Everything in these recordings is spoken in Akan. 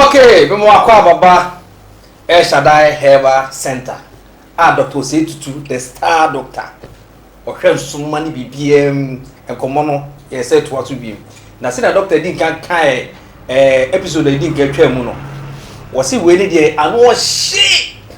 Okay, me mo akɔ ababa El Shaddai Herbal Center a Doctor Osei Tutu, the star doctor, ɔhwɛ nsoma ne biribiara mu. Nkɔmmɔ no yɛ sɛ toa so bi mu. Na sɛnea doctor di nka kae ɛɛ eh, episode a edi nka twaa mu no, wɔsi wei ne deɛ ano ɔhye.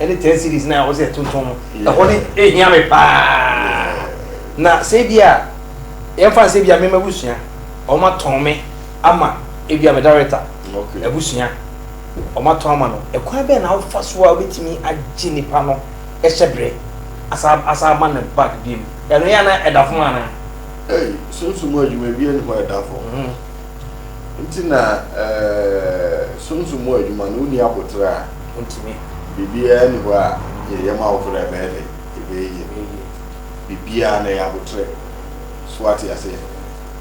ɛne ten series na ɔsɛ ɛtontɔn no ɛhɔ ne ehia me paa na sɛ ebi a yɛmfa nsɛ bi a mema abusua wɔn atɔn me ama ebi a me director abusua wɔn atɔn ama no ɛkwan bɛn na wofa so a wobɛtumi agye nipa no ɛhyɛ berɛ asa asa ama no back bi mu ɛno yɛ ana ɛda fam ana. Hey, sunsun mu adwuma bi ɛni hɔ ɛda fam. Mm-hmm. Nti na sunsum mu adwuma no wonni aboterɛ a, biribiara nni hɔ a yɛyɛ ma awofo dɛ ɛbɛyɛ dɛ ɛbɛyɛ yie no. Biribiara no ɛyɛ aboterɛ. So wate aseɛ?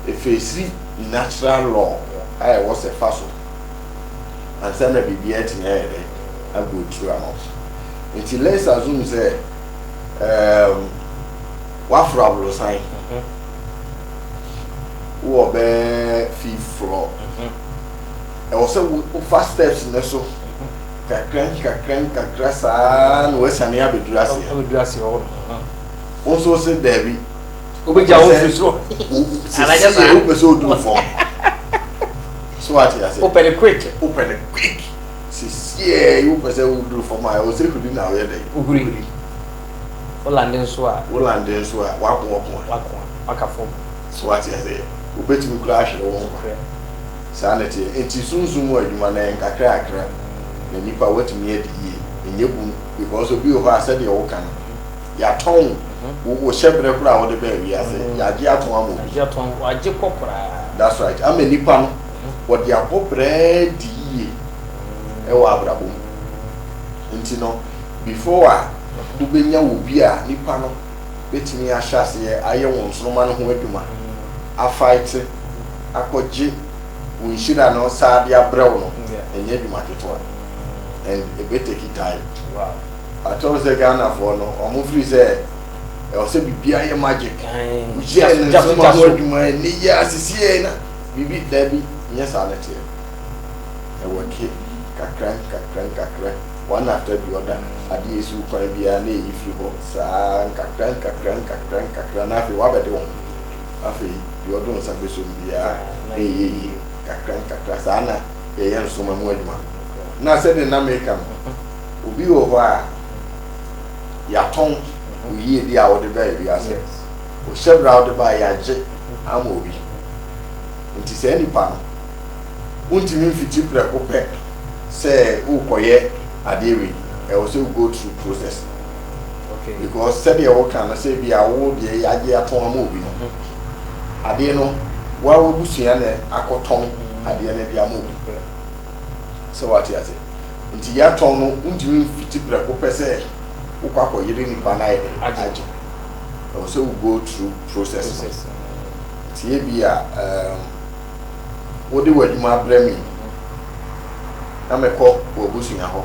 Ɛfeesiri natural law a ɛwɔ sɛ fa so ansa na biribiara atumi ayɛ dɛ ago through ama wo. Nti let's assume sɛ ɛɛm. W'aforo aborosan wowɔ bɛɛ fifth floor ɛwɔ sɛ wofa steps no so kakra nkakra nkakra saa na wasiane abɛduru aseɛ wo nso wo se daabi wobɛgya wo firi soro sɛsiyɛ wopɛ sɛ oduru fam so wate ase wopɛ ne quick wopɛ ne quick sɛsiyɛ wopɛ sɛ woduru fam a ɛwɔ sɛ huri na woyɛ dɛn wohuri Wolande nso a. Wolande nso a, w'ako ɔko a. W'ako a, w'aka fam. So wate aseɛ? Wobɛtumi koraa ahwere wo nkwa. Korɛ. Saa na ɛteɛ. Enti sunsum mu adwuma no, ɛyɛ nkakrakra na nnipa woatumi adi yie. Ɛnyɛ hu, because obi wɔ hɔ a, sɛdeɛ woka no, yɛatɔn wo, wo hyɛberɛ koraa a wode baa wiase, yɛagye atɔn ama obi. Yɛagye atɔn, wɔagye kɔ koraa. That's right. Ama nnipa no, wɔde abɔ bra adi yie wɔ abrabɔ mu. Ntsi no, before a bobenya obi a nyimpa no betumi ahyɛ aseyɛ ayɛ hɔn nsoromma no ho edwuma, afighte, akɔgye wo nhyira no saa de abrɛ wo no, nnyɛ edwuma ketsewa and ebeteki time. Ɔakyerɛ wo sɛ Ghanafoɔ no, wɔn firi sɛ ɛwɔ sɛ biribiara yɛ magic, woyɛɛ no nsoromma ho adwuma, nnɛ yi ara, sesei na biribi, daabi, nnyɛ saa na ɛteɛ. Ɛwɔtwe nkakrankakra-nkakra, one after the other, adeɛ ɛsi wo kwan biara na ɛyi firi hɔ saa ara nkakrankakra-nkakra-nkakra na afei wabɛde wo ho. Afei deɛ ɔde wo nsa bɛsɔ mu biara na ɛyɛ yie nkakrankakra. Saa na yɛyɛ nsoma mu adwuma. Na sɛdeɛ na mereka no, obi wɔ hɔ a yɛatɔn wo yiedie a wode baa wiase, wo hyɛberɛ a wode baeɛ yɛagye ama obi. Nti saa nipa no Wontumi mfiti prɛko pɛ sɛ worekɔyɛ adeɛ wei. Ɛwɔ sɛ wo go through process. Okay. Because sɛdeɛ woka no sɛ bi a wo deɛ yɛagye atɔn ama obi no, adeɛ no woa w'abusua na akɔtɔn adeɛ no de ama obi. Sɛ woate ase. Nti yɛatɔn no wontumi mfiti prɛko pɛ sɛ wokɔ akɔyere nipa no ayɛ dɛn agye. Ɛwɔ sɛ wo go through process no. Nti ebi a um, wode w'adwuma brɛ me yi, na mekɔ w'abusua hɔ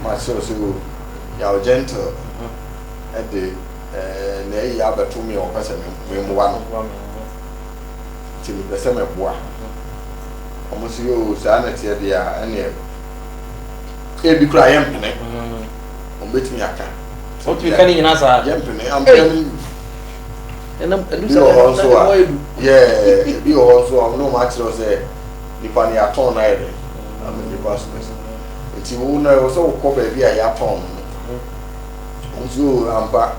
ma kyerɛ sɛ o yaw gentle de na ayi abɛto me a ɔpɛ sɛ memmoa no nti mepɛ sɛ mɛboa ɔmo sɛ o saa na teɛ deɛ a ɛneɛ ebi kora yɛmpene ɔmo bɛtumi aka yɛmpene ampene ebi wɔ hɔ nso a yɛɛ ebi wɔ hɔ nso a ɔno ɔmo akyerɛ sɛ nipa no yɛatɔn no ayɛ dɛ ama nipa so pɛsɛ nti wo na ɛwɔ sɛ wokɔ baabi a yɛatɔn no no nso ampa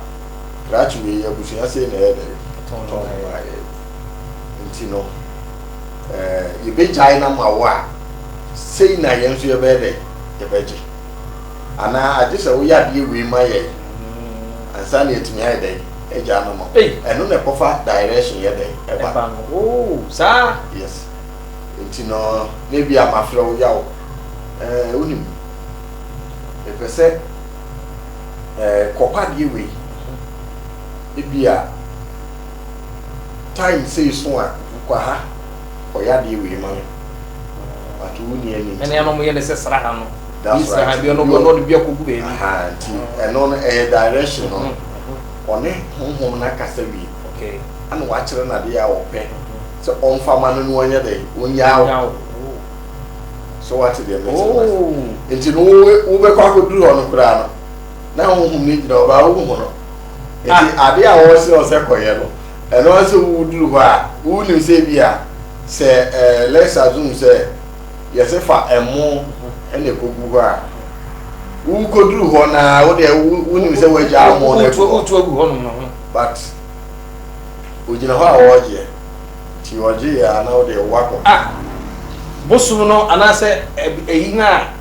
krakye wei abusua sei na ɛyɛ dɛ tɔn no ayɛ nti no ɛɛ yɛbɛgyae no ama wo a sei na yɛn nso yɛbɛyɛ dɛ yɛbɛgye Anaa agye sɛ woyɛ adeɛ wei ma yɛn ansa na yɛatumi ayɛ dɛn agya ama ma wo. Ɛno na ɛkɔfa direction yɛ dɛn ɛba. Ɛba no oo saa. Yes nti no na ebia mafrɛ wo yaw ɛɛ wonim mepɛ sɛ ɛɛ kɔpa adeɛ wei ebia time sei so a kɔ ha kɔyɛ adeɛ wei ma me but wonni ani nti. Ɛne ɛna wɔyɛ no sɛ sraha no. That's right. Aha, bia no go no de bia kogu baby. Aha, nti ɛno no ɛyɛ direction no. Ɔne honhom no akasa wie. Okay. Ana wakyerɛ na de a ɔpɛ sɛ ɔmfa ma no no ɔnyɛ dɛ ɔnyaw. So what the message was. Oh. Nti no wo bɛkɔ akɔduru hɔ no koraa no na honhom no gyina ɔbaa wo ho no. Nti ah. ade a wɔsɛ ɔsɛ kɔyɛ no ɛno sɛ woduru hɔ a wonim sɛ bi a sɛ eh, let's assume sɛ yɛse fa ɛmo na ɛkɔgu hɔ a wokɔduru hɔ no a wodeɛ wonim sɛ woagya mo no agu hɔ but ogyina hɔ a wɔregyeɛ nti ɔgyeeɛ a na wodeɛ woakɔ ah, bosom no anaasɛ ɛyi no a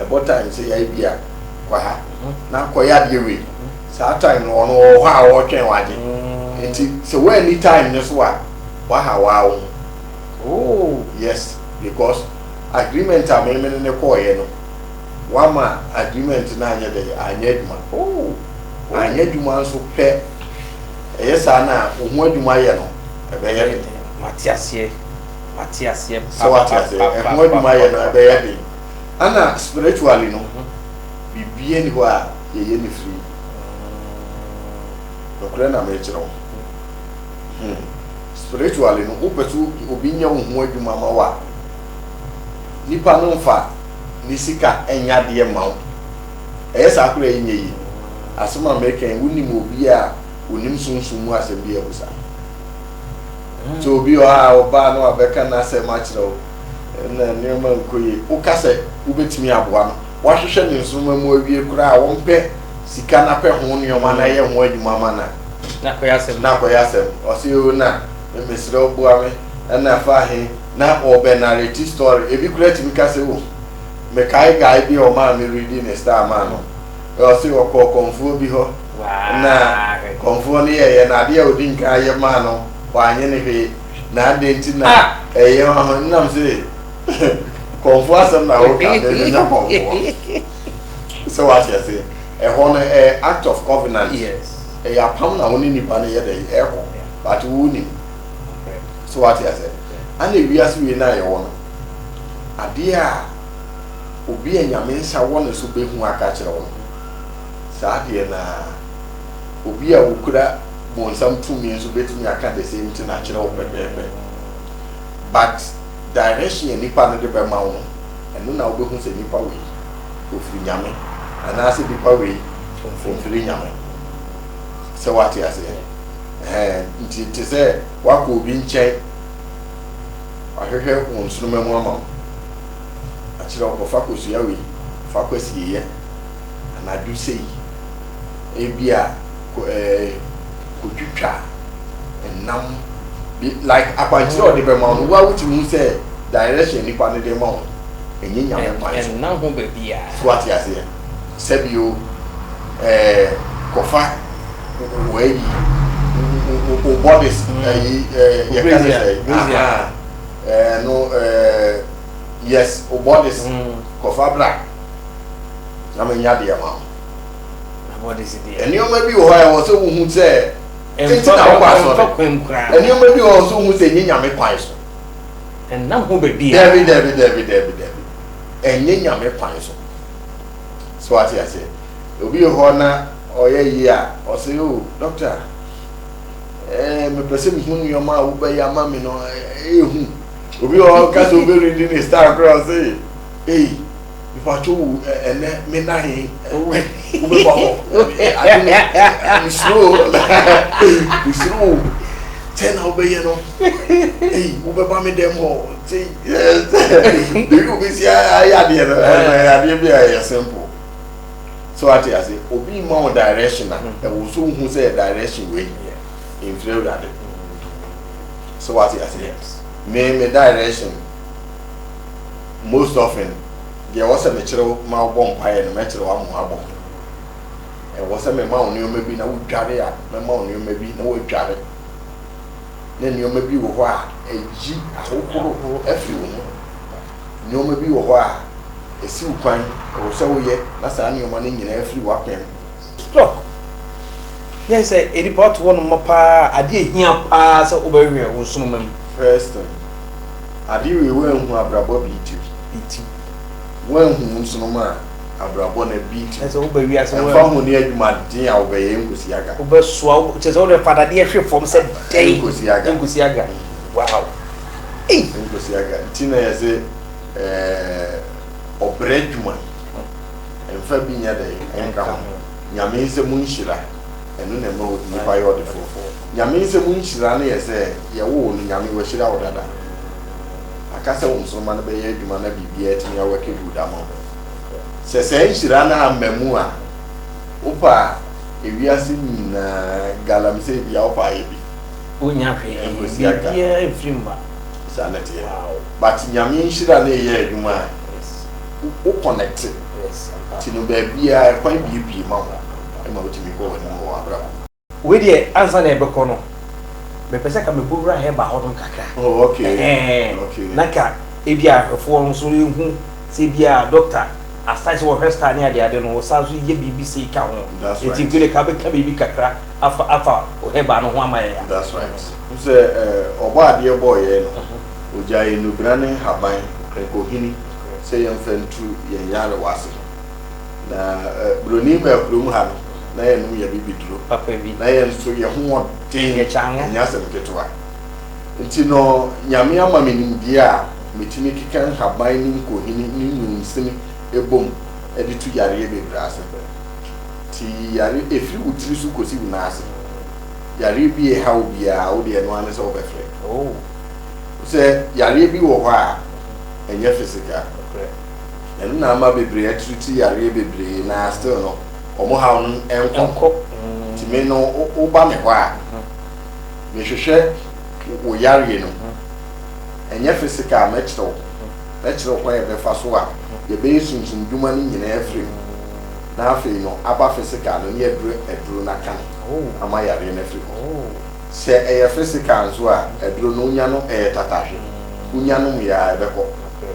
ɛbɔ time sɛ yae bi a kɔ ha na kɔyɛ adeɛ wei saa time no ɔno ɔwɔ hɔ a ɔretwɛn wagye nti sɛ woanni time no so a waha waa wo oh yes because agreement a meme ne ne kɔɔyɛ no wama agreement no anyɛ dɛ anyɛ adwuma oh anyɛ adwuma nso pɛ ɛyɛ saa na wo ho adwuma yɛ no ɛbɛyɛ den mate aseɛ mate aseɛ sɛ wate aseɛ ɛho adwuma yɛ no ɛbɛyɛ den Ana spiritually no biribiara nni hɔ a yɛyɛ no firi? Nokorɛ na merekyerɛ wo. Hmm. Spiritually no, wopɛ sɛ obi nyɛ wo ho adwuma ma wo a, nipa no mfa ne sika nyɛ adeɛ mma wo. Ɛyɛ saa koraa a, ɛnyɛ yie. Asɛm a mereka yi, wonim obi a ɔnim sunsum mu asɛm bi a ɛgu saa? Sɛ obi wɔ ha a, ɔbaa na wabɛka n'asɛm akyerɛ wo. na nneɛma nkɔ yie. Woka sɛ wobɛtumi aboa no, wahwehwɛ ne nsoroma mu awie koraa a, ɔmpɛ sika no apɛ ho nneɛma no ayɛ ho adwuma ama no a, na akɔyɛ asɛm. Na akɔyɛ asɛm. Ɔse oo na mesrɛ wo boa me, ɛna fa ahe, na ɔbɛnareti story. Ebi koraa tumi ka sɛ oh, mekae guy bi a ɔmaa me redi ne star maa no, ɔse ɔkɔɔ kɔmfoɔ bi hɔ, na kɔmfoɔ no yɛeɛ no adeɛ a ɔdi nkan yɛ maa no, wanyɛ no hwee. Na adɛn nti na ah. ɛyɛ wo ahɔ nam sɛ kɔmfoɔ asɛm na woka ne menya kɔmfoɔ sɛ woate ase ɛhɔ no ɛyɛ act of covenant ɛyɛ apam na wo ne nipa no yɛ dɛ ɛkɔ but wo nim sɛ woate ase ana wiase wei no ayɛwɔ no adeɛ a obi a nyame nsa wɔ ne so bɛhu aka kyerɛ wo no saa adeɛ no a Obi a okura bonsam tumi nso betumi aka the same thing akyerɛ wo pɛpɛɛpɛ. But direction a nipa no de bɛma wo no, ɛno na wobehu sɛ nipa wei ofiri Nyame anaasɛ nipa wei omfiri Nyame. Sɛ woate aseɛ? Ɛhɛn, nti te sɛ woakɔ obi nkyɛn, wahwehwɛ wo nsoroma mu ama wo, akyerɛ wo kɔfa kɔsua wei, fa kwasieyɛ. anadwo sei, ebia kɔ ɛɛ kotwitwa nnam bi like akwankyerɛ a ɔde bɛma no wa wotumi hu sɛ direction nipa no de ma wo ɛnyɛ nyame kwan so ɛnna ho baabi a so ate aseɛ sɛbio ɛɛ kɔfa wɔayi o bodies ɛyi ɛɛ yɛka ne sɛ ɛɛ no ɛɛ yes o bodies kɔfa bra na menya deɛ ma wo. Nneɛma bi wɔ hɔ a ɛwɔ sɛ wohu sɛ nti na wokɔ asɔre. Nneɛma bi wɔ hɔ sɛ wohu sɛ ɛnyɛ nyame kwan so. Ɛnam ho baabi a. Dabi dabi dabi dabi dabi. Ɛnyɛ nyame kwan so. So ate aseɛ. Obi wɔ hɔ na ɔyɛ yie a ɔsɛ o oh, dɔkta ɛɛ eh, mepɛ sɛ mehu nneɛma a wobɛyɛ ama me no ɛyɛ eh, eh, hu. Obi wɔ hɔ kasa obɛredi ne star koraa ɔsɛ ei. Mepatwo wo ɛnɛ me na he wobɛba hɔ ade no mesuro o mesuro o sɛ na wobɛyɛ no ei wobɛba me dɛm hɔ nti ebi wobɛsi ayɛ adeɛ no adeɛ bi a ɛyɛ simple so ate ase obi ma wo direction a ɛwɔ so wohu sɛ direction wei mfiri awurade so ate ase me me direction most often deɛ ɛwɔ sɛ mekyerɛ wo ma wobɔ mpaeɛ no mɛkyerɛ wo ama woabɔ ho ɛwɔ sɛ mema wo nneɛma bi na wodware a mɛma wo nneɛma bi na woadware ne nneɛma bi wɔ hɔ a ɛyi ahohorohoro afiri wo ho nneɛma bi wɔ hɔ a ɛsi wo kwan ɛwɔ sɛ woyɛ na saa nneɛma no nyinaa afiri w'apɛm Stock, Yɛn sɛ nnipa ɔte hɔ nom mɔ paa a, adeɛ a ɛhia paa sɛ wobɛwɛn wo nsoromma mu. First thing, adeɛ wei woanhu abrabɔ bi ti. Bi ti. Woanhu wo nsoromma a, abrabɔ no bi ti. Kyerɛ sɛ woba wiase woanhu. Ɛmfa ho ne adwumaden a wobɛyɛ, ɛnkosi aga. Wobɛsoa, wo, kyerɛ sɛ wode fa dadeɛ hwe fam sɛ dɛn. Ɛnkosi aga. Ɛnkosi aga. Wow. Ei! Ɛnkosi aga. Nti na yɛse ɛɛ, ɔbrɛ adwuma. Mfa bi nyɛ dɛn nka ho. Nyame nsɛm nhyira, ɛno na ɛma onipa yɛ ɔdefoɔ. Nyame nsɛm nhyira no yɛ sɛ, yɛwoo no, Nyame wahyira wo dada. Aka sɛ wo nsoroma no bɛyɛ adwuma na biribiara atumi awɔke good ama wo. Sɛ saa nhyira no amma mu a, wopɛ a, ewiase nyinaa galamsey biara wopɛ a yɛ bi. Wonnya hwee, biribiara mfiri mma. Saa na ɛteɛ. But Nyame nhyira no reyɛ adwuma a. Wo kɔnɛkte ti no baabiara, kwan biebie ma wo ma wotumi kɔ w'anim wɔ w'abrabɔ mu. Wei deɛ ansa na yɛbɛkɔ no, mepɛ sɛ ka mekɔ wura herbal hɔ nom kakra. Oh ok, ok. Na ka ebi a ahwɛfoɔ no nso ɛhu sɛ ebi a doctor aside sɛ wɔhwɛ star ne adeade no, wɔsan nso yɛ biribi sei ka ho. That's right. Nti Kwele ka bɛka biribi kakra afa afa wo herbal no ho ama yɛn a. That's right. Wohu sɛ Ɔbɔadeɛ bɔɔ yɛn no, ɔgyaee nnubra ne nhaban, nkonkohini, sɛ yɛmfa ntu yɛn nyarewa ase no. Na Buroni maa kurom ha no, na yɛnom yɛn bibiduro. Papa bi. Na yɛn nso yɛn ho wɔ den. Yɛ kya ano. Ɛnyɛ asɛm ketewa. Nti no, Nyame ama me nimdeɛ a metumi keka nhaban ne nkohini ne nwunsini bɔ mu de tu yareɛ bebree ase. Nti yare, ɛfiri wo tiri so kɔsi wo nan ase. Yareɛ bi ɛha obiara, wo deɛ ɛno ara ne sɛ wobɛfrɛ. Oh. Sɛ yareɛ bi wɔ hɔ a. ɛnyɛ physical nokorɛ ɛno na ama bebree atreat yareɛ bebree na still no wɔn haw no nkɔ no nti me no woba me hɔ a mehwehwɛ wo yareɛ no ɛnyɛ physical mɛkyerɛ wo mɛkyerɛ wo kwan ɛbɛfa so a yɛbɛyɛ sunsum dwuma no nyinaa afiri mu na afei no aba physical no ne aduro aduro no aka no ama yareɛ no afiri hɔ. Sɛ ɛyɛ physical nso a, aduro no wonya no ɛyɛ tatahwe, wonya nom yɛ a ɛbɛkɔ.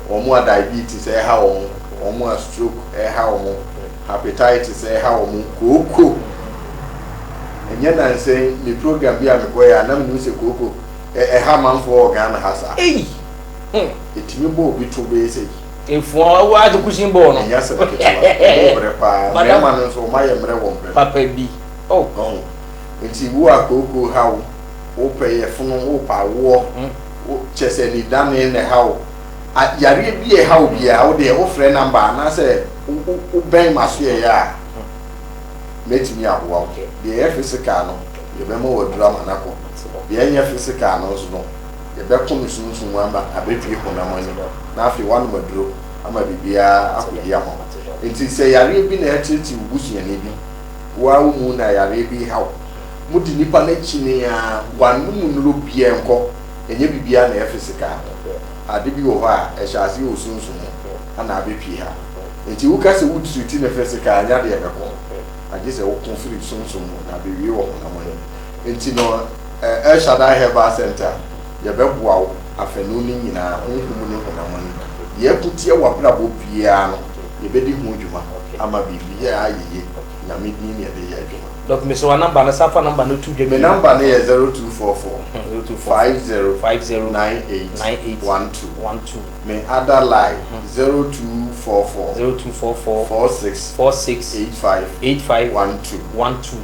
Wɔn a diabetes ɛreha wɔn, wɔn a stroke ɛreha wɔn, hepatitis ɛreha wɔn, kooko, ɛnyɛ nansa yi me program bi a mekɔeɛ a na menim sɛ kooko ɛha amanfoɔ wɔ Ghana ha saa. Ei! Hmm. Ɛtumi bɔ obi to bɛyɛ sɛ yi. Efuo a wo ate kusin bɔɔ no. Ɛnyɛ asɛm ketewa, wɔn brɛ paa, mmarima no nso wɔn ayɛ mmerɛ wɔn brɛ no. Papa bi, oh. Ɔho. Nti wo a kookoo ha wo, wo pɛ yɛfono, wo pɛ awoɔ wo kyɛ sɛ anidane na ɛha wo. A yareɛ bi a ɛha wo biara wo deɛ wo frɛ number anaa sɛ wo wo bɛn m'asoɛeɛ a mɛtumi aboa wo. Deɛ ɛyɛ physical no yɛbɛma wo aduru ama no akɔ, deɛ ɛnyɛ physical no nso no yɛbɛko no sunsum mu ama abɛpue honam ani na afei woanom aduro ama biribiara akɔ yie ama wo. Nti sɛ yareɛ bi na ɛreteetee wo busuani bi, Woaa wo mu na yareɛ bi reha wo. Modi nnipa no akyi ne aa, w'anom nnuro biaa nkɔ, ɛnyɛ biribiaa na ɛyɛ physical. Ade bi wɔ hɔ a, ɛhyɛ aseɛ wɔ sunsum mu na abɛpie ha. Nti woka sɛ wo treati no physical a, ɛnyɛ adeɛ a ɛbɛkɔ. Agye sɛ woko firi sunsum mu na abɛwie wɔ honam mu. Nti no, El Shaddai Herbal Centre. Yɛbɛboa wo afanu no nyinaa, honhom ne honam ani. Yɛko tia w'abrabɔ biara no, yɛbɛdi ho dwuma ama biribiara ayɛ yie. Nyame din ne yɛde yɛ adwuma. Doc mese wanumber no san fa number no to dwa bio. Me number no yɛ zero two four four five zero nine eight one two me other line zero two four four four six eight five one two.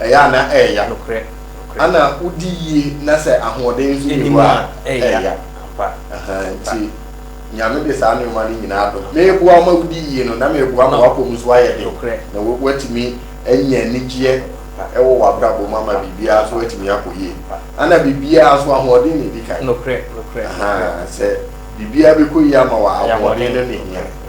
Ɛyɛ a na ɛreya. Nokorɛ, nokorɛ. Ana wodi yie na sɛ ahoɔden nso nni hɔ a, ɛreya. Ampa, ampa. Nti Nyame de saa nnoɔma no nyinaa adom. Meboa wo ma wodi yie no, na meboa ma w'apɔ mu nso ayɛ den. Nokorɛ. Na woatumi anya anigyeɛ wɔ w'abrabɔ mu ama biribiara nso atumi akɔ yie. Ampa. Ana biribiara nso ahoɔden na ɛdi kan. Nokorɛ, nokorɛ, nokorɛ. Ahaa, sɛ biribiara bɛkɔ yie ama wo a, ahoɔden no na ɛhia.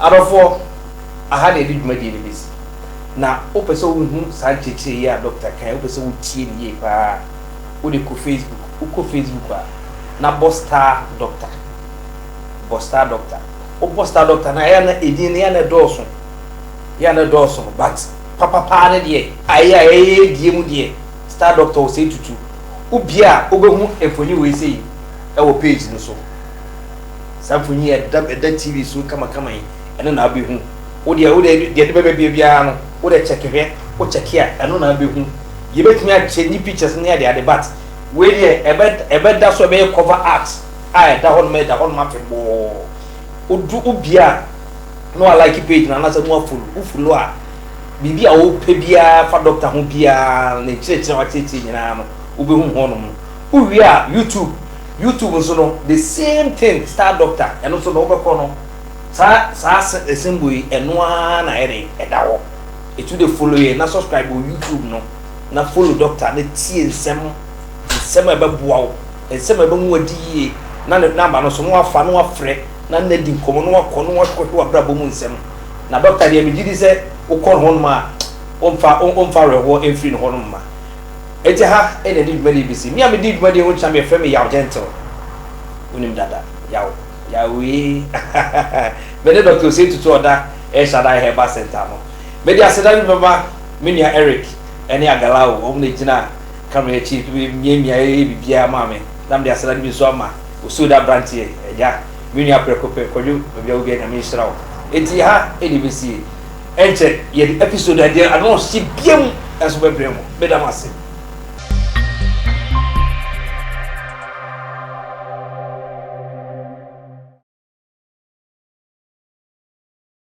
Adɔfoɔ, aha na yɛde dwumadie no bɛsi. Na wopɛ sɛ wohu saa nkyerɛkyerɛ yi a dɔkta kae, wopɛ sɛ wotie no yie pa ara a, wode kɔ Facebook. Wokɔ Facebook a, na bɔ star doctor. Bɔ star doctor. Wobɔ star doctor no a, ɛyɛ a na edin no yɛ a na ɛdɔɔso. Yɛ a na ɛdɔɔso no, but papapaa no deɛ, ayɛ a ɛyɛ die mu deɛ, star doctor wɔ sɛ tutu. Wobue a, wobɛhu mfonin wei sei wɔ page no so. Saa mfoni yi a ɛda ɛda TV so yi kamakama yi, ɛno na wobɛhu. Wo deɛ, wo deɛ, deɛ ɛde bɛba bie biara no, wo deɛ kyɛke hwɛ, wo kyɛke a, ɛno na wobɛhu. Yɛbɛtumi akyɛ ne pictures ne adeade but wei deɛ ɛbɛ, ɛbɛda so, ɛbɛyɛ cover art a ɛda hɔ nom, ɛda hɔ nom afebɔɔ. Wodu, wobie a, na wa like page no anaasɛ na wa follow. Wo follow a, biribi a wopɛ biara fa Doctor ho biara, ne nkyerɛkyerɛ a wakyerɛkyerɛ nyinaa no, wobɛhu hɔ nom. Wo wie a YouTube YouTube nso no the same thing star doctor ɛno nso no wo bɛkɔ no saa saa se symbol yi ɛno ara na ayɛ den ɛda hɔ ɛtu de follow yɛn na subscribe wɔ YouTube no na follow doctor na tie nsɛm nsɛm a ɛbɛboa wo nsɛm a ɛbɛhu adi yie na ne number no nso no wafa no wafrɛ na na di nkɔmmɔ no wakɔ no wakɔhwɛ w'abrabɔ mu nsɛm na doctor deɛ megye di sɛ wokɔ no hɔnom a ɔmfa ɔmfa awerɛhoɔ ɛmfiri no hɔnom mma Agya ha na ɛde dwumadie yi bɛsi. Me a medi dwumadie yi ho nkyea me yɛfrɛ me Yaw Gentle. Wonim dada. Yaw. Yawee. me ne Doctor Osei Tutu Ɔda El Shaddai Herbal Center no. Mede aseda bi bɛma me nua Eric ne Agalao. Wɔn na ɛgyina camera akyi miamia ɛyɛ biribiara maa me. Na mede aseda no bi nso ama Osuoda abranteɛ, Agya, me nua Prɛko Pɛ, Kwadwo, baabi a wɔ biara Nyame nhyira wo. Enti ha na ɛbɛsie. Ɛnkyɛ yɛde episode a deɛ ano ɔhye biam nso bɛbrɛ mo. Meda mo ase.